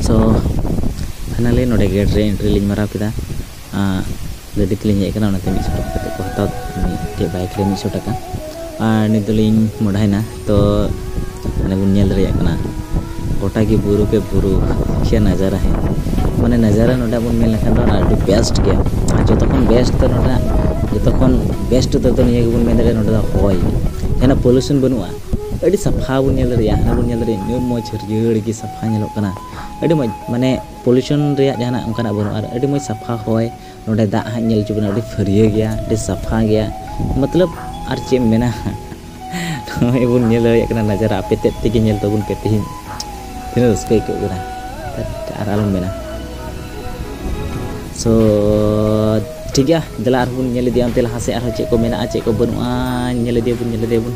ᱥᱳ finally ᱱᱚᱰᱮ gate ᱨᱮ entry ᱞᱤᱧ ᱢᱟᱨᱟᱣ ᱠᱮᱫᱟ ᱜᱟᱹᱰᱤ ᱛᱮᱞᱤᱧ ᱦᱮᱡ ᱠᱟᱱᱟ ᱚᱱᱟᱛᱮ ᱢᱤᱫᱥᱚ ᱴᱟᱠᱟ ᱠᱟᱛᱮᱫ ᱠᱚ ᱦᱟᱛᱟᱣ ᱢᱤᱫᱴᱮᱡ ᱵᱟᱭᱤᱠ ᱨᱮ ᱢᱤᱫᱥᱚ ᱴᱟᱠᱟ ᱟᱨ ᱱᱤᱛ ᱫᱚᱞᱤᱧ ᱢᱚᱰᱟᱭᱮᱱᱟ ᱛᱚ ᱢᱟᱱᱮ ᱵᱚᱱ ᱧᱮᱞ ᱫᱟᱲᱮᱭᱟᱜ ᱠᱟᱱᱟ ᱜᱚᱴᱟ ᱜᱮ ᱵᱩᱨᱩ ᱜᱮ ᱵᱩᱨᱩ ᱠᱷᱮ ᱱᱟᱡᱟᱨᱟ ᱦᱮ ᱢᱟᱱᱮ ᱱᱟᱡᱟᱨᱟ ᱱᱚᱰᱮ ᱵᱚᱱ ᱢᱮᱱ ᱞᱮᱠᱷᱟᱱ ᱫᱚ ᱚᱱᱟ ᱟᱹᱰᱤ ᱵᱮᱥᱴ ᱜᱮᱭᱟ ᱟᱨ ᱡᱚᱛᱚ ᱠᱷᱚᱱ ᱵᱮᱥᱴ ᱫᱚ ᱱᱚᱰᱮᱱᱟᱜ ᱡᱚᱛᱚ ᱠᱷᱚᱱ ᱵᱮᱥᱴ ᱩᱛᱟᱹᱨ ᱫᱚ ᱱᱤᱭᱟᱹ ᱜᱮᱵᱚᱱ ᱢᱮᱱ ᱫᱟᱲᱮᱭᱟᱜᱼᱟ ᱱᱚᱰᱮ ᱫᱚ ᱦᱚᱭ ᱡᱟᱦᱟᱱᱟᱜ ᱯᱚᱞᱩᱥᱚᱱ ᱵᱟᱹᱱᱩᱜᱼᱟ ᱟᱹᱰᱤ ᱥᱟᱯᱷᱟ ᱵᱚᱱ ᱧᱮᱞ ᱫᱟᱲᱮᱭᱟᱜᱼᱟ ᱦᱟᱱᱟ ᱵᱚᱱ ᱧᱮᱞ ᱫᱟᱲᱮᱭᱟᱜᱼᱟ ᱤᱱᱟᱹᱜ ᱢᱚᱡᱽ ᱦᱟᱹᱨᱭᱟᱹᱲ ᱜᱮ ᱥᱟᱯᱷᱟ ᱧᱮᱞᱚᱜ ᱠᱟᱱᱟ ᱟᱹᱰᱤ ᱢᱚᱡᱽ ᱢᱟᱱᱮ ᱯᱚᱞᱩᱥᱚᱱ ᱨᱮᱭᱟᱜ ᱡᱟᱦᱟᱱᱟᱜ ᱚᱱᱠᱟᱱᱟᱜ ᱵᱟᱹᱱᱩᱜᱼᱟ ᱟᱨ ᱟᱹᱰᱤ ᱢᱚᱡᱽ ᱥᱟᱯᱷᱟ ᱦᱚᱭ ᱱᱚᱰᱮ ᱫᱟᱜ ᱦᱟᱸᱜ ᱧᱮᱞ ᱦᱚᱪᱚ ᱵᱮᱱᱟ ᱟᱹᱰᱤ ᱯᱷᱟᱹᱨᱭᱟᱹ ᱜᱮᱭᱟ ᱟᱹᱰᱤ ᱥᱟᱯᱷᱟ ᱜᱮᱭᱟ ᱢᱚᱛᱞᱚᱵ ᱟᱨ ᱪᱮᱫ ᱮᱢ ᱢᱮᱱᱟ ᱱᱚᱜᱼᱚᱭ ᱵᱚᱱ ᱧᱮᱞ ᱫᱟᱲᱮᱭᱟᱜ ᱠᱟᱱᱟ ᱱᱟᱡᱟᱨᱟ ᱟᱯᱮ ᱛᱮᱫ ᱛᱮᱜᱮ ᱧᱮᱞ ᱛᱟᱵᱚᱱ ᱯᱮ ᱛᱮᱦᱮᱧ ᱛᱤᱱᱟᱹᱜ ᱨᱟᱹᱥᱠᱟᱹ ᱟᱹᱭᱠᱟᱹᱜ ᱠᱟᱱᱟ ᱟᱨ ᱟᱞᱚᱢ ᱢᱮᱱᱟ ᱥᱚ ᱴᱷᱤᱠ ᱜᱮᱭᱟ ᱫᱮᱞᱟ ᱟᱨᱦᱚᱸ ᱵᱚᱱ ᱧᱮᱞ ᱤᱫᱤᱭᱟ ᱚᱱᱛᱮ ᱞᱟᱦᱟ ᱥᱮᱫ ᱟᱨᱦᱚᱸ ᱪᱮᱫ ᱠᱚ ᱢᱮᱱᱟᱜᱼᱟ ᱪᱮᱫ ᱠᱚ ᱵᱟᱹᱱᱩᱜᱼᱟ ᱧᱮᱞ ᱤᱫᱤᱭᱟᱵᱚᱱ ᱧᱮᱞ ᱤᱫᱤᱭᱟᱵᱚᱱ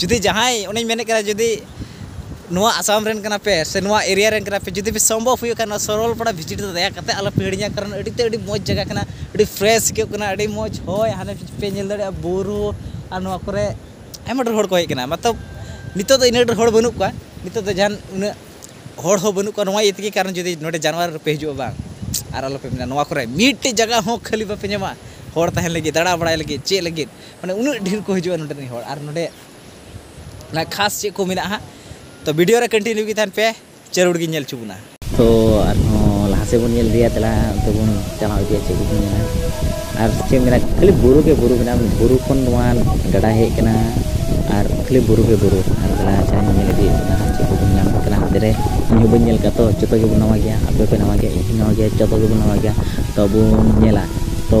ᱡᱩᱫᱤ ᱡᱟᱦᱟᱸᱭ ᱚᱱᱮᱧ ᱢᱮᱱᱮᱫ ᱠᱟᱱᱟ ᱡᱩᱫᱤ ᱱᱚᱣᱟ ᱟᱥᱟᱢ ᱨᱮᱱ ᱠᱟᱱᱟ ᱯᱮ ᱥᱮ ᱱᱚᱣᱟ ᱮᱨᱤᱭᱟ ᱨᱮᱱ ᱠᱟᱱᱟ ᱯᱮ ᱡᱩᱫᱤ ᱯᱮ ᱥᱚᱢᱵᱷᱚᱵ ᱦᱩᱭᱩᱜ ᱠᱷᱟᱱ ᱱᱚᱣᱟ ᱥᱚᱨᱚᱞᱯᱟᱲᱟ ᱵᱷᱤᱡᱤᱴ ᱫᱚ ᱫᱟᱭᱟ ᱠᱟᱛᱮᱫ ᱟᱞᱚ ᱯᱮ ᱦᱤᱲᱤᱧᱟ ᱠᱟᱨᱚᱱ ᱟᱹᱰᱤ ᱛᱮᱫ ᱟᱹᱰᱤ ᱢᱚᱡᱽ ᱡᱟᱭᱜᱟ ᱠᱟᱱᱟ ᱟᱹᱰᱤ ᱯᱷᱨᱮᱥ ᱟᱹᱭᱠᱟᱹᱜ ᱠᱟᱱᱟ ᱟᱹᱰᱤ ᱢᱚᱡᱽ ᱦᱚᱭ ᱦᱟᱱᱮ ᱯᱮ ᱧᱮᱞ ᱫᱟᱲᱮᱭᱟᱜᱼᱟ ᱵᱩᱨᱩ ᱟᱨ ᱱᱚᱣᱟ ᱠᱚᱨᱮ ᱟᱭᱢᱟ ᱰᱷᱮᱨ ᱦᱚᱲ ᱠᱚ ᱦᱮᱡ ᱠᱟᱱᱟ ᱢᱚᱛᱞᱚᱵ ᱱᱤᱛᱚᱜ ᱫᱚ ᱤᱱᱟᱹᱜ ᱰᱷᱮᱨ ᱦᱚᱲ ᱵᱟᱹᱱᱩᱜ ᱠᱚᱣᱟ ᱱᱤᱛᱚᱜ ᱫᱚ ᱡᱟᱦᱟᱱ ᱩᱱᱟᱹᱜ ᱦᱚᱲ ᱦᱚᱸ ᱵᱟᱹᱱᱩᱜ ᱠᱚᱣᱟ ᱱᱚᱣᱟ ᱤᱭᱟᱹ ᱛᱮᱜᱮ ᱠᱟᱨᱚᱱ ᱡᱩᱫᱤ ᱱᱚᱰᱮ ᱡᱟᱱᱩᱣᱟᱨᱤ ᱨᱮᱯᱮ ᱦᱤᱡᱩᱜᱼᱟ ᱵᱟᱝ ᱟᱨ ᱟᱞᱚ ᱯᱮ ᱢᱮᱱᱟ ᱱᱚᱣᱟ ᱠᱚᱨᱮ ᱢᱤᱫᱴᱮᱡ ᱡᱟᱭᱜᱟ ᱦᱚᱸ ᱠᱷᱟᱹᱞᱤ ᱵᱟᱯᱮ ᱧᱟᱢᱟ ᱦᱚᱲ ᱛᱟᱦᱮᱱ ᱞᱟᱹᱜᱤᱫ ᱫᱟᱬᱟ ᱵᱟᱲᱟᱭ ᱞᱟᱹᱜᱤᱫ ᱪᱮᱫ ᱞᱟᱹᱜᱤᱫ ᱢᱟᱱᱮ ᱩᱱᱟᱹᱜ ᱰᱷᱮᱨ ᱠᱚ ᱦᱤᱡᱩᱜᱼᱟ ᱱᱚᱰᱮ ᱨᱤᱱ ᱦᱚᱲ ᱟᱨ ᱱᱚᱰᱮ ᱚᱱᱟ ᱠᱷᱟᱥ ᱪᱮᱫ ᱠᱚ ᱢᱮᱱᱟᱜᱼᱟ ᱦᱟᱸᱜ ᱛᱚ ᱵᱷᱤᱰᱤᱭᱳ ᱨᱮ ᱠᱚᱱᱴᱤᱱᱤᱭᱩ ᱜᱮ ᱛᱟᱦᱮᱱ ᱯᱮ ᱡᱟᱹᱨᱩᱲ ᱜᱮ ᱧᱮᱞ ᱦᱚᱪᱚ ᱵᱚᱱᱟ ᱛᱚ ᱟᱨᱦᱚᱸ ᱞᱟᱦᱟ ᱥᱮᱫ ᱵᱚᱱ ᱧᱮᱞ ᱤᱫᱤᱭᱟ ᱛᱟᱦᱞᱮ ᱚᱱᱛᱮ ᱵᱚᱱ ᱪᱟᱞᱟᱣ ᱤᱫᱤᱭᱟ ᱪᱮᱫ ᱠᱚᱵᱚᱱ ᱧᱮᱞᱟ ᱟᱨ ᱪᱮᱫ ᱢᱮᱱᱟᱜᱼᱟ ᱠᱷᱟᱹᱞᱤ ᱵᱩᱨᱩ ᱜᱮ ᱵᱩᱨᱩ ᱢᱮᱱᱟᱜᱼᱟ ᱵᱩᱨᱩ ᱠᱷᱚᱱ ᱱᱚᱣᱟ ᱜᱟᱰᱟ ᱦᱮᱡ ᱠᱟᱱᱟ ᱟᱨ ᱠᱷᱟᱹᱞᱤ ᱵᱩᱨᱩ ᱜᱮ ᱵᱩᱨᱩ ᱟᱨ ᱛᱟᱦᱞᱮ ᱟᱪᱪᱷᱟ ᱧᱮᱞ ᱤᱫᱤᱭᱮᱫ ᱵᱚᱱᱟ ᱦᱟᱸᱜ ᱪᱮᱫ ᱠᱚᱵᱚᱱ ᱧᱟᱢᱮᱫ ᱠᱟᱱᱟ ᱦᱟᱱᱛᱮ ᱨᱮ ᱤᱧ ᱦᱚᱸ ᱵᱟᱹᱧ ᱧᱮᱞ ᱠᱟᱜᱼᱟ ᱛᱚ ᱡᱚᱛᱚ ᱜᱮᱵᱚᱱ ᱱᱟᱣᱟ ᱜᱮᱭᱟ ᱟᱯᱮ ᱦᱚᱸᱯᱮ ᱱᱟᱣᱟ ᱜᱮᱭᱟ ᱤᱧ ᱦᱚᱸ ᱱᱟᱣᱟ ᱜᱮᱭᱟ ᱡᱚᱛᱚ ᱜᱮᱵᱚᱱ ᱱᱟᱣᱟ ᱜᱮᱭᱟ ᱛᱚ ᱵᱚᱱ ᱧᱮᱞᱟ ᱛᱚ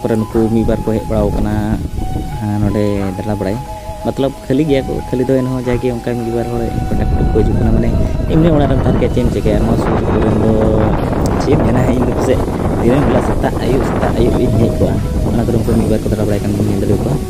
ᱠᱚᱨᱮ ᱱᱩᱠᱩ ᱢᱤᱫ ᱵᱟᱨ ᱠᱚ ᱦᱮᱡ ᱵᱟᱲᱟᱣ ᱠᱟᱱᱟ ᱱᱚᱰᱮ ᱫᱟᱬᱟ ᱵᱟᱲᱟᱭ ᱢᱚᱛᱞᱚᱵ ᱠᱷᱟᱹᱞᱤ ᱜᱮᱭᱟ ᱠᱚ ᱠᱷᱟᱹᱞᱤ ᱫᱚ ᱮᱱᱦᱚᱸ ᱡᱟᱜᱮ ᱚᱱᱠᱟ ᱢᱤᱫ ᱵᱟᱨ ᱦᱚᱲ ᱯᱟᱴᱟ ᱠᱩᱴᱩᱢ ᱠᱚ ᱦᱤᱡᱩᱜ ᱠᱟᱱᱟ ᱢᱟᱱᱮ ᱮᱢᱱᱤ ᱚᱲᱟᱜ ᱨᱮᱢ ᱛᱟᱦᱮᱱ ᱠᱷᱟᱡ ᱪᱮᱫ ᱮᱢ ᱪᱤᱠᱟᱹᱭᱟ ᱱᱚᱣᱟ ᱥᱩᱨ ᱥᱩᱯᱩᱨ ᱨᱮᱱ ᱫᱚ ᱪᱮᱫ ᱮᱢ ᱢᱮᱱᱟ ᱤᱧ ᱫᱚ ᱯᱟᱥᱮᱡ ᱫᱤᱱᱟᱹᱢ ᱦᱤᱞᱳᱜ ᱥᱮᱛᱟᱜ ᱟᱹᱭᱩᱵ ᱥᱮᱛᱟᱜ ᱟᱹᱭᱩᱵ ᱤᱧ ᱦᱮᱡ ᱠᱚᱜᱼᱟ ᱚᱱᱟ ᱠᱚᱨᱮ ᱩᱱᱠᱩ ᱢᱤᱫ ᱵᱟᱨ ᱠᱚ ᱫᱟᱬᱟ ᱵᱟᱲᱟᱭ ᱠᱟᱱ ᱧᱮᱞ ᱫᱟᱲᱮᱭᱟᱠᱚᱣᱟ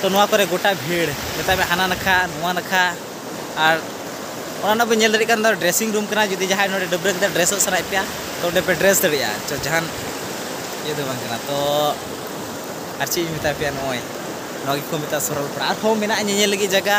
ᱛᱚ ᱱᱚᱣᱟ ᱠᱚᱨᱮ ᱜᱚᱴᱟ ᱵᱷᱤᱲ ᱢᱮᱛᱟᱜ ᱢᱮ ᱦᱟᱱᱟ ᱱᱟᱠᱷᱟ ᱱᱚᱣᱟ ᱱᱟᱠᱷᱟ ᱟᱨ ᱚᱱᱟ ᱨᱮᱱᱟᱜ ᱵᱮᱱ ᱧᱮᱞ ᱫᱟᱲᱮᱭᱟᱜ ᱠᱟᱱ ᱫᱚ ᱰᱨᱮᱥᱤᱝ ᱨᱩᱢ ᱠᱟᱱᱟ ᱡᱩᱫᱤ ᱡᱟᱦᱟᱸᱭ ᱱᱚᱰᱮ ᱰᱟᱹᱵᱽᱨᱟᱹ ᱠᱟᱛᱮᱫ ᱰᱨᱮᱥᱚᱜ ᱥᱟᱱᱟᱭᱮᱫ ᱯᱮᱭᱟ ᱛᱚ ᱚᱸᱰᱮ ᱯᱮ ᱰᱨᱮᱥ ᱫᱟᱲᱮᱭᱟᱜᱼᱟ ᱪᱚ ᱡᱟᱦᱟᱱ ᱤᱭᱟᱹ ᱫᱚ ᱵᱟᱝ ᱠᱟᱱᱟ ᱛᱚ ᱟᱨ ᱪᱮᱫ ᱤᱧ ᱢᱮᱛᱟ ᱯᱮᱭᱟ ᱱᱚᱜᱼᱚᱭ ᱱᱚᱣᱟ ᱜᱮᱠᱚ ᱢᱮᱛᱟᱜᱼᱟ ᱥᱚᱨᱚᱞᱯᱟᱲᱟ ᱟᱨᱦᱚᱸ ᱢᱮᱱᱟᱜᱼᱟ ᱧᱮᱧᱮᱞ ᱞᱟᱹᱜᱤᱫ ᱡᱟᱭᱜᱟ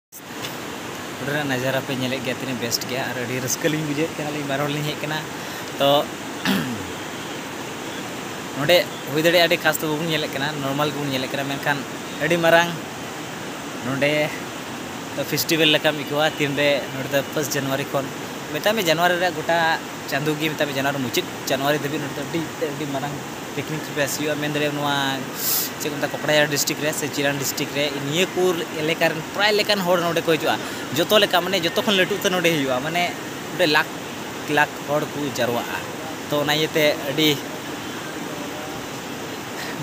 ᱚᱸᱰᱮᱱᱟᱜ ᱱᱟᱡᱟᱨᱟ ᱯᱮ ᱧᱮᱞᱮᱫ ᱜᱮᱭᱟ ᱛᱤᱱᱟᱹᱜ ᱵᱮᱥᱴ ᱜᱮᱭᱟ ᱟᱨ ᱟᱹᱰᱤ ᱨᱟᱹᱥᱠᱟᱹ ᱞᱤᱧ ᱵᱩᱡᱷᱟᱹᱣᱮᱫ ᱛᱟᱦᱮᱱᱟ ᱟᱹᱞᱤᱧ ᱵᱟᱨ ᱦᱚᱲ ᱞᱤᱧ ᱦᱮᱡ ᱠᱟᱱᱟ ᱛᱚ ᱱᱚᱰᱮ ᱦᱩᱭ ᱫᱟᱲᱮᱭᱟᱜᱼᱟ ᱟᱹᱰᱤ ᱠᱷᱟᱥ ᱫᱚ ᱵᱟᱵᱚᱱ ᱧᱮᱞᱮᱫ ᱠᱟᱱᱟ ᱱᱚᱨᱢᱟᱞ ᱜᱮᱵᱚᱱ ᱧᱮᱞᱮᱫ ᱠᱟᱱᱟ ᱢᱮᱱᱠᱷᱟᱱ ᱟᱹᱰᱤ ᱢᱟᱨᱟᱝ ᱱᱚᱰᱮ ᱯᱷᱮᱥᱴᱤᱵᱷᱮᱞ ᱞᱮᱠᱟᱢ ᱟᱹᱭᱠᱟᱹᱣᱟ ᱛᱤᱱᱨᱮ ᱱᱚᱰᱮ ᱫᱚ ᱯᱷᱟᱥᱴ ᱡᱟᱱᱩᱣᱟᱨᱤ ᱠᱷᱚᱱ ᱢᱮᱛᱟᱜ ᱢᱮ ᱡᱟᱱᱩᱣᱟᱨᱤ ᱨᱮᱭᱟᱜ ᱜᱚᱴᱟ ᱪᱟᱸᱫᱚ ᱜᱮ ᱢᱮᱛᱟᱜ ᱢᱮ ᱡᱟᱱᱩᱣᱟᱨᱤ ᱢᱩᱪᱟᱹᱫ ᱡᱟᱱᱩᱣᱟᱨᱤ ᱫᱷᱟᱹᱵᱤᱡ ᱱᱚᱸᱰᱮ ᱫᱚ ᱟᱹᱰᱤ ᱛᱮᱫ ᱟᱹᱰᱤ ᱢᱟᱨᱟᱝ ᱯᱤᱠᱱᱤᱠ ᱯᱞᱮᱥ ᱦᱩᱭᱩᱜᱼᱟ ᱢᱮᱱ ᱫᱟᱲᱮᱭᱟᱜᱼᱟᱢ ᱱᱚᱣᱟ ᱪᱮᱫ ᱠᱚ ᱢᱮᱛᱟᱜᱼᱟ ᱠᱚᱠᱲᱟᱡᱟᱲ ᱰᱤᱥᱴᱤᱠ ᱨᱮ ᱥᱮ ᱪᱤᱨᱟᱱ ᱰᱤᱥᱴᱤᱠ ᱨᱮ ᱱᱤᱭᱟᱹ ᱠᱚ ᱮᱞᱟᱠᱟ ᱨᱮᱱ ᱯᱨᱟᱭ ᱞᱮᱠᱟᱱ ᱦᱚᱲ ᱱᱚᱸᱰᱮ ᱠᱚ ᱦᱤᱡᱩᱜᱼᱟ ᱡᱚᱛᱚ ᱞᱮᱠᱟ ᱢᱟᱱᱮ ᱡᱚᱛᱚ ᱠᱷᱚᱱ ᱞᱟᱹᱴᱩ ᱩᱛᱟᱹᱨ ᱱᱚᱸᱰᱮ ᱦᱩᱭᱩᱜᱼᱟ ᱢᱟᱱᱮ ᱚᱸᱰᱮ ᱞᱟᱠᱷ ᱞᱟᱠᱷ ᱦᱚᱲ ᱠᱚ ᱡᱟᱨᱣᱟᱜᱼᱟ ᱛᱚ ᱚᱱᱟ ᱤᱭᱟᱹ ᱛᱮ ᱟᱹᱰᱤ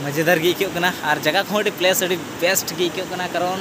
ᱢᱚᱡᱮᱫᱟᱨ ᱜᱮ ᱟᱹᱭᱠᱟᱹᱜ ᱠᱟᱱᱟ ᱟᱨ ᱡᱟᱭᱜᱟ ᱠᱚ ᱦᱚᱸ ᱟᱹᱰᱤ ᱯᱞᱮᱥ ᱟᱹᱰᱤ ᱵᱮᱥᱴ ᱜᱮ ᱟᱹᱭᱠᱟᱹᱜ ᱠᱟᱱᱟ ᱠᱟᱨᱚᱱ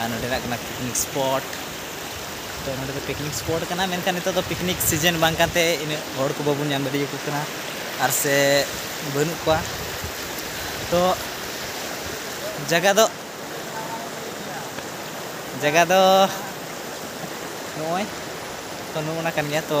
ᱟᱨ ᱱᱚᱰᱮᱱᱟᱜ ᱠᱟᱱᱟ ᱯᱤᱠᱱᱤᱠ ᱥᱯᱚᱴ ᱛᱚ ᱱᱚᱰᱮ ᱫᱚ ᱯᱤᱠᱱᱤᱠ ᱥᱯᱚᱴ ᱠᱟᱱᱟ ᱢᱮᱱᱠᱷᱟᱱ ᱱᱤᱛᱚᱜ ᱫᱚ ᱯᱤᱠᱱᱤᱠ ᱥᱤᱡᱮᱱ ᱵᱟᱝ ᱠᱟᱱᱛᱮ ᱤᱱᱟᱹᱜ ᱦᱚᱲ ᱠᱚ ᱵᱟᱵᱚᱱ ᱧᱟᱢ ᱫᱟᱲᱮᱭᱟᱠᱚ ᱠᱟᱱᱟ ᱟᱨ ᱥᱮ ᱵᱟᱹᱱᱩᱜ ᱠᱚᱣᱟ ᱛᱚ ᱡᱟᱭᱜᱟ ᱫᱚ ᱡᱟᱭᱜᱟ ᱫᱚ ᱱᱚᱜᱼᱚᱭ ᱛᱚ ᱱᱚᱜᱼᱚ ᱱᱟ ᱠᱟᱱ ᱜᱮᱭᱟ ᱛᱚ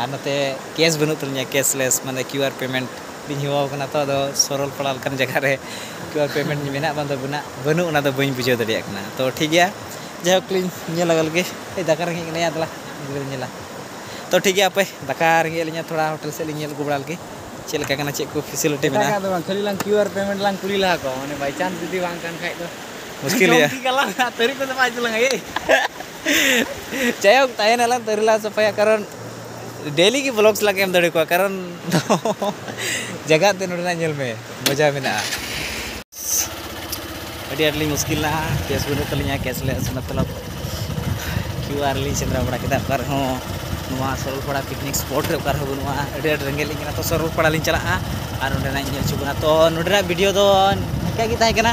ᱟᱨ ᱱᱚᱛᱮ ᱠᱮᱥ ᱵᱟᱹᱱᱩᱜ ᱛᱟᱹᱞᱤᱧᱟ ᱠᱮᱥᱞᱮᱥ ᱢᱟᱱᱮ ᱠᱤᱭᱩ ᱟᱨ ᱯᱮᱢᱮᱱᱴ ᱞᱤᱧ ᱦᱮᱣᱟ ᱠᱟᱱᱟ ᱛᱚ ᱟᱫᱚ ᱥᱚᱨᱚᱞ ᱯᱟᱲᱟ ᱞᱮᱠᱟᱱ ᱡᱟᱭᱜᱟ ᱨᱮ ᱠᱤᱭᱩ ᱟᱨ ᱯᱮᱢᱮᱱᱴ ᱢᱮᱱᱟᱜ ᱵᱟᱝ ᱫᱚ ᱢᱮᱱᱟᱜ ᱵᱟᱹᱱᱩᱜ ᱚᱱᱟ ᱫᱚ ᱵᱟᱹᱧ ᱵᱩᱡᱷᱟᱹᱣ ᱫᱟᱲᱮᱭᱟᱜ ᱠᱟᱱᱟ ᱛᱚ ᱴᱷᱤᱠ ᱜᱮᱭᱟ ᱡᱟᱭᱦᱳᱠ ᱞᱤᱧ ᱧᱮᱞ ᱞᱮᱜᱟ ᱞᱮᱜᱮ ᱫᱟᱠᱟ ᱨᱮᱸᱜᱮᱡ ᱠᱟᱱᱟ ᱭᱟ ᱫᱮᱞᱟ ᱜᱤᱫᱽᱨᱟᱹ ᱞᱤᱧ ᱧᱮᱞᱟ ᱛᱚ ᱴᱷᱤᱠ ᱜᱮᱭᱟ ᱦᱟᱯᱮ ᱫᱟᱠᱟ ᱨᱮᱸᱜᱮᱡ ᱮᱫ ᱞᱤᱧᱟ ᱛᱷᱚᱲᱟ ᱦᱳᱴᱮᱞ ᱥᱮᱫ ᱞᱤᱧ ᱧᱮᱞ ᱟᱹᱜᱩ ᱵᱟᱲᱟ ᱞᱮᱜᱮ ᱪᱮᱫ ᱞᱮᱠᱟ ᱠᱟᱱᱟ ᱪᱮᱫ ᱠᱚ ᱯᱷᱮᱥᱤᱞᱤᱴᱤ ᱢᱮᱱᱟᱜᱼᱟ ᱮᱴᱟᱜᱟᱜ ᱫᱚ ᱵᱟᱝ ᱠᱷᱟᱹᱞᱤ ᱞᱟᱝ ᱠᱤᱭᱩ ᱟᱨ ᱯᱮᱢᱮᱱᱴ ᱞᱟᱝ ᱠᱩᱞᱤ ᱞᱟᱦᱟ ᱠᱚᱣᱟ ᱢᱟᱱᱮ ᱵᱟᱭᱪᱟᱱᱥ ᱡᱩᱫᱤ ᱵᱟᱝ ᱠᱟᱱ ᱠᱷᱟᱡ ᱫᱚ ᱢᱩᱥᱠᱤᱞ ᱜᱮᱭᱟ ᱡᱚᱢ ᱠᱮᱫ ᱜᱮᱞᱟᱝ ᱛᱟᱹᱨᱤ ᱠᱚᱫᱚ ᱵᱟᱭ ᱤᱫᱤ ᱞᱟᱝᱟᱭ ᱮᱭ ᱡᱟᱭᱦᱳᱠ ᱛᱟᱦᱮᱱᱟᱞᱟᱝ ᱛᱟᱹᱨᱤ ᱞᱟᱝ ᱥᱟᱯᱷᱟᱭᱟ ᱠᱟᱨᱚᱱ ᱰᱮᱞᱤ ᱜᱮ ᱵᱞᱚᱠᱥ ᱞᱟᱝ ᱮᱢ ᱫᱟᱲᱮ ᱠᱚᱣᱟ ᱠᱟᱨᱚᱱ ᱡᱟᱭᱜᱟ ᱮᱱᱛᱮᱫ ᱱᱚᱰᱮᱱᱟᱜ ᱧᱮᱞ ᱢᱮ ᱢᱚᱡᱟ ᱢᱮᱱᱟᱜᱼᱟ ᱟᱹᱰᱤ ᱟᱸᱴ ᱞᱤᱧ ᱢᱩᱥᱠᱤᱞ ᱱᱟ ᱠᱮᱥ ᱵᱟᱹᱱᱩᱜ ᱛᱟᱹᱞᱤᱧᱟ ᱠᱮᱥ ᱞᱮ ᱟᱥᱮ ᱢᱚᱛᱞᱚᱵ ᱠᱤᱭᱩ ᱟᱨ ᱞᱤᱧ ᱥᱮᱸᱫᱽᱨᱟ ᱵᱟᱲᱟ ᱠᱮᱫᱟ ᱚᱠᱟ ᱨᱮᱦᱚᱸ ᱱᱚᱣᱟ ᱥᱚᱨᱚᱞᱯᱟᱲᱟ ᱯᱤᱠᱱᱤᱠ ᱥᱯᱚᱴ ᱨᱮ ᱚᱠᱟ ᱨᱮᱦᱚᱸ ᱵᱟᱹᱱᱩᱜᱼᱟ ᱟᱹᱰᱤ ᱟᱸᱴ ᱨᱮᱸᱜᱮᱡ ᱞᱤᱧ ᱠᱟᱱᱟ ᱛᱚ ᱥᱚᱨᱚᱞᱯᱟᱲᱟ ᱞᱤᱧ ᱪᱟᱞᱟᱜᱼᱟ ᱟᱨ ᱚᱸᱰᱮᱱᱟᱜ ᱤᱧ ᱧᱮᱞ ᱦᱚᱪᱚ ᱵᱚᱱᱟ ᱛᱚ ᱱᱚᱰᱮᱱᱟᱜ ᱵᱷᱤᱰᱤᱭᱳ ᱫᱚ ᱱᱤᱝᱠᱟᱹ ᱜᱮ ᱛᱟᱦᱮᱸ ᱠᱟᱱᱟ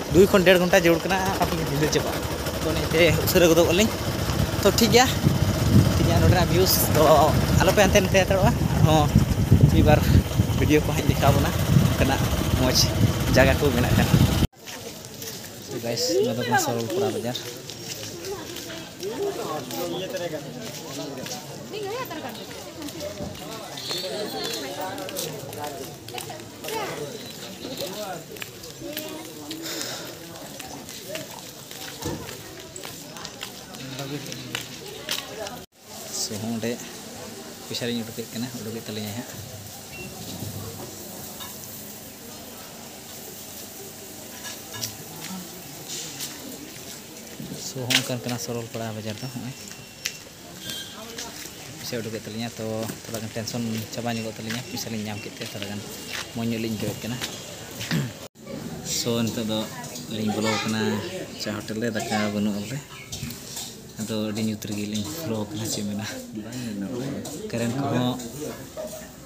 ᱫᱩᱭ ᱠᱷᱚᱱ ᱰᱮᱲ ᱜᱷᱚᱱᱴᱟ ᱡᱟᱹᱨᱩᱲ ᱠᱟᱱᱟ ᱟᱯᱮ ᱜᱮ ᱧᱤᱫᱟᱹ ᱪᱟᱵᱟᱜᱼᱟ ᱛᱚ ᱚᱱᱟᱛᱮ ᱩᱥᱟᱹᱨᱟ ᱜᱚᱫᱚᱜ ᱟᱹᱞᱤᱧ ᱛᱚ ᱴᱷᱤᱠ ᱜᱮᱭᱟ ᱴᱷᱤᱠ ᱜᱮᱭᱟ ᱱᱚᱰᱮᱱᱟᱜ ᱵᱷᱤᱭᱩᱥ ᱫᱚ ᱟᱞᱚ ᱯᱮ ᱦᱟᱱᱛᱮ ᱱᱟᱛᱮ ᱦᱟᱛᱟᱲᱚᱜᱼᱟ ᱟᱨᱦᱚᱸ ᱢᱤᱫ ᱵᱟᱨ ᱵᱷᱤᱰᱤᱭᱳ ᱠᱚ ᱦᱟᱸᱜ ᱤᱧ ᱫᱮᱠᱷᱟᱣ ᱵᱚᱱᱟ ᱚᱱᱠᱟᱱᱟᱜ ᱢᱚᱡᱽ ᱡᱟᱭᱜᱟ ᱠᱚ ᱢᱮᱱᱟᱜ ᱠᱷᱟᱱ ᱛᱚ ᱜᱟᱭᱤᱥ ᱱᱚᱣᱟ ᱫᱚ ᱠᱟᱱᱟ ᱥᱚᱨᱚᱞ ᱯᱟᱲᱟ ᱵᱟᱡᱟᱨ ᱥᱚ ᱦᱚᱸ ᱚᱸᱰᱮ ᱯᱚᱭᱥᱟ ᱞᱤᱧ ᱩᱰᱩᱠᱮᱫ ᱠᱟᱱᱟ ᱩᱰᱩᱠᱮᱫ ᱛᱟᱹᱞᱤᱧᱟᱭ ᱦᱟᱸᱜ ᱥᱚ ᱦᱚᱸ ᱚᱱᱠᱟᱱ ᱠᱟᱱᱟ ᱥᱚᱨᱚᱞ ᱯᱟᱲᱟ ᱵᱟᱡᱟᱨ ᱫᱚ ᱱᱚᱜᱼᱚᱭ ᱯᱩᱭᱥᱟᱹ ᱩᱰᱩᱠᱮᱫ ᱛᱟᱹᱞᱤᱧᱟ ᱛᱚ ᱛᱷᱚᱲᱟ ᱜᱟᱱ ᱴᱮᱱᱥᱚᱱ ᱪᱟᱵᱟ ᱧᱚᱜᱚᱜ ᱛᱟᱹᱞᱤᱧᱟ ᱯᱩᱭᱥᱟᱹ ᱞᱤᱧ ᱧᱟᱢ ᱠᱮᱫ ᱛᱮ ᱛᱷᱚᱲᱟ ᱜᱟᱱ ᱢᱚᱡᱽ ᱧᱚᱜ ᱞᱤᱧ ᱟᱹᱭᱠᱟᱹᱣᱮᱫ ᱠᱟᱱᱟ ᱥᱚ ᱱᱤᱛᱚᱜ ᱫᱚ ᱞᱤᱧ ᱵᱚᱞᱚ ᱟᱠᱟᱱᱟ ᱪᱟ ᱦᱳᱴᱮᱞ ᱨᱮ ᱫᱟᱠᱟ ᱵᱟᱹᱱᱩᱜᱼᱟ ᱵᱚᱞᱮ ᱟᱫᱚ ᱟᱹᱰᱤ ᱧᱩᱛ ᱨᱮᱜᱮ ᱞᱤᱧ ᱵᱚᱞᱚ ᱟᱠᱟᱱᱟ ᱪᱮᱫ ᱢᱮᱱᱟ ᱠᱟᱨᱮᱱᱴ ᱠᱚᱦᱚᱸ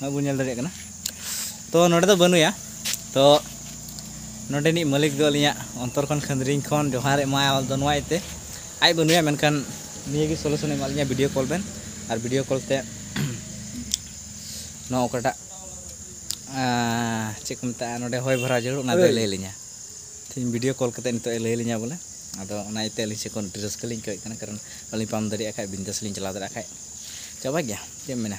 ᱱᱚᱜᱼᱚᱭ ᱵᱚᱱ ᱧᱮᱞ ᱫᱟᱲᱮᱭᱟᱜ ᱠᱟᱱᱟ ᱛᱚ ᱱᱚᱰᱮ ᱫᱚ ᱵᱟᱹᱱᱩᱭᱟ ᱛᱚ ᱱᱚᱰᱮᱱᱤᱡ ᱢᱟᱹᱞᱤᱠ ᱫᱚ ᱟᱹᱞᱤᱧᱟᱜ ᱚᱱᱛᱚᱨ ᱠᱷᱚᱱ ᱠᱷᱟᱹᱱᱫᱽᱨᱤᱧ ᱠᱷᱚᱱ ᱡᱚᱦᱟᱨ ᱮᱢᱟᱭᱟ ᱫᱚ ᱱᱚᱣᱟ ᱤᱭᱟᱹᱛᱮ ᱟᱡ ᱵᱟᱹᱱᱩᱭᱟ ᱢᱮᱱᱠᱷᱟᱱ ᱱᱤᱭᱟᱹ ᱜᱮ ᱥᱚᱞᱩᱥᱚᱱ ᱮᱢᱟᱜ ᱞᱤᱧᱟ ᱵᱷᱤᱰᱤᱭᱳ ᱠᱚᱞ ᱵᱮᱱ ᱟᱨ ᱵᱷᱤᱰᱤᱭᱳ ᱠᱚᱞ ᱛᱮ ᱱᱚᱣᱟ ᱚᱠᱟᱴᱟᱜ ᱪᱮᱫ ᱠᱚ ᱢᱮᱛᱟᱜᱼᱟ ᱱᱚᱰᱮ ᱦᱚᱭ ᱵᱷᱚᱨᱟᱣ ᱡᱟᱹᱨᱩᱲ ᱚᱱᱟ ᱫᱚᱭ ᱞᱟᱹᱭ ᱞᱤᱧᱟ ᱛᱮᱦᱮᱧ ᱵᱷᱤᱰᱤᱭᱳ ᱠᱚᱞ ᱠᱟᱛᱮ ᱱᱤᱛᱚᱜ ᱮ ᱞᱟᱹᱭ ᱞᱤᱧᱟ ᱵᱚᱞᱮ ᱟᱫᱚ ᱚᱱᱟ ᱤᱭᱟᱹᱛᱮ ᱟᱹᱞᱤᱧ ᱥᱮᱫ ᱠᱷᱚᱱ ᱟᱹᱰᱤ ᱨᱟᱹᱥᱠᱟᱹ ᱞᱤᱧ ᱟᱹᱭᱠᱟᱹᱣᱮᱫ ᱠᱟᱱᱟ ᱠᱟᱨᱚᱱ ᱟᱹᱞᱤᱧ ᱯᱟᱢ ᱫᱟᱲᱮᱭᱟᱜ ᱠᱷᱟᱡ ᱵᱤᱱᱫᱟᱥ ᱞᱤᱧ ᱪᱟᱞᱟᱣ ᱫᱟᱲᱮᱭᱟᱜ ᱠᱷᱟᱡ ᱪᱟᱵᱟ ᱜᱮᱭᱟ ᱪᱮᱫ ᱮᱢ ᱢᱮᱱᱟ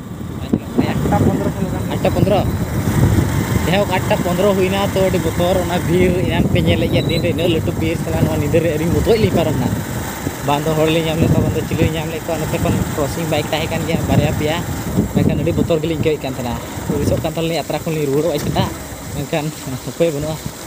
ᱟᱴᱴᱟ ᱯᱚᱱᱨᱚ ᱠᱷᱚᱱ ᱞᱟᱜᱟᱣ ᱟᱴᱴᱟ ᱯᱚᱱᱨᱚ ᱡᱟᱭᱦᱳᱠ ᱟᱴᱴᱟ ᱯᱚᱱᱨᱚ ᱦᱩᱭᱱᱟ ᱛᱚ ᱟᱹᱰᱤ ᱵᱚᱛᱚᱨ ᱚᱱᱟ ᱵᱤᱨ ᱮᱱᱟᱱ ᱯᱮ ᱧᱮᱞᱮᱫ ᱜᱮᱭᱟ ᱫᱤᱱ ᱨᱮ ᱤᱱᱟᱹᱜ ᱞᱟᱹᱴᱩ ᱵᱤᱨ ᱥᱟᱞᱟ ᱱᱚᱣᱟ ᱧᱤᱫᱟᱹ ᱨᱮ ᱟᱹᱞᱤᱧ ᱢᱚᱛᱚᱡ ᱞᱤᱧ ᱯᱟᱨᱚᱢᱱᱟ ᱵᱟᱝ ᱫᱚ ᱦᱚᱲ ᱞᱤᱧ ᱧᱟᱢ ᱞᱮᱫ ᱠᱚᱣᱟ ᱵᱟᱝ ᱫᱚ ᱪᱤᱞᱤ ᱞᱤᱧ ᱧᱟᱢ ᱞᱮᱫ ᱠᱚᱣᱟ ᱱᱚᱛᱮ ᱠᱷᱚᱱ ᱠᱨᱚᱥᱤᱝ ᱵᱟᱭᱤᱠ ᱛᱟᱦᱮᱸ ᱠᱟᱱ ᱜᱮᱭᱟ ᱵᱟᱨᱭᱟ ᱯᱮᱭᱟ ᱢᱮᱱᱠᱷᱟᱱ ᱟᱹᱰᱤ ᱵᱚᱛᱚᱨ ᱜᱮᱞᱤᱧ ᱟᱹᱭᱠᱟᱹᱣᱮᱫ ᱠᱟᱱ ᱛᱟᱦᱮᱱᱟ ᱦᱩᱫᱤᱥᱚᱜ ᱠᱟᱱ ᱛᱟᱦᱮᱱᱟᱞᱤᱧ ᱟᱛᱨᱟ ᱠᱷᱚᱱ ᱞᱤᱧ ᱨᱩᱣᱟᱹᱲᱚᱜᱼᱟ ᱪᱮᱛᱟ ᱢᱮᱱᱠᱷᱟᱱ ᱩᱯᱟᱹᱭ ᱵᱟᱹᱱᱩᱜᱼᱟ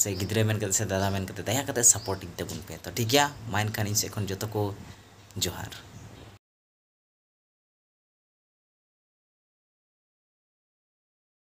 ᱥᱮ ᱜᱤᱫᱽᱨᱟᱹ ᱢᱮᱱ ᱠᱟᱛᱮ ᱥᱮ ᱫᱟᱫᱟ ᱢᱮᱱ ᱠᱟᱛᱮ ᱫᱟᱭᱟ ᱠᱟᱛᱮ ᱥᱟᱯᱳᱨᱴ ᱤᱧ ᱛᱟᱵᱚᱱ ᱯᱮ ᱛᱚ ᱴᱷᱤᱠ ᱜᱮᱭᱟ ᱢᱟ ᱮᱱᱠᱷᱟᱱ ᱤᱧ ᱥᱮᱫ ᱠᱷᱚᱱ ᱡᱚᱛᱚ ᱠᱚ ᱡᱚᱦᱟᱨ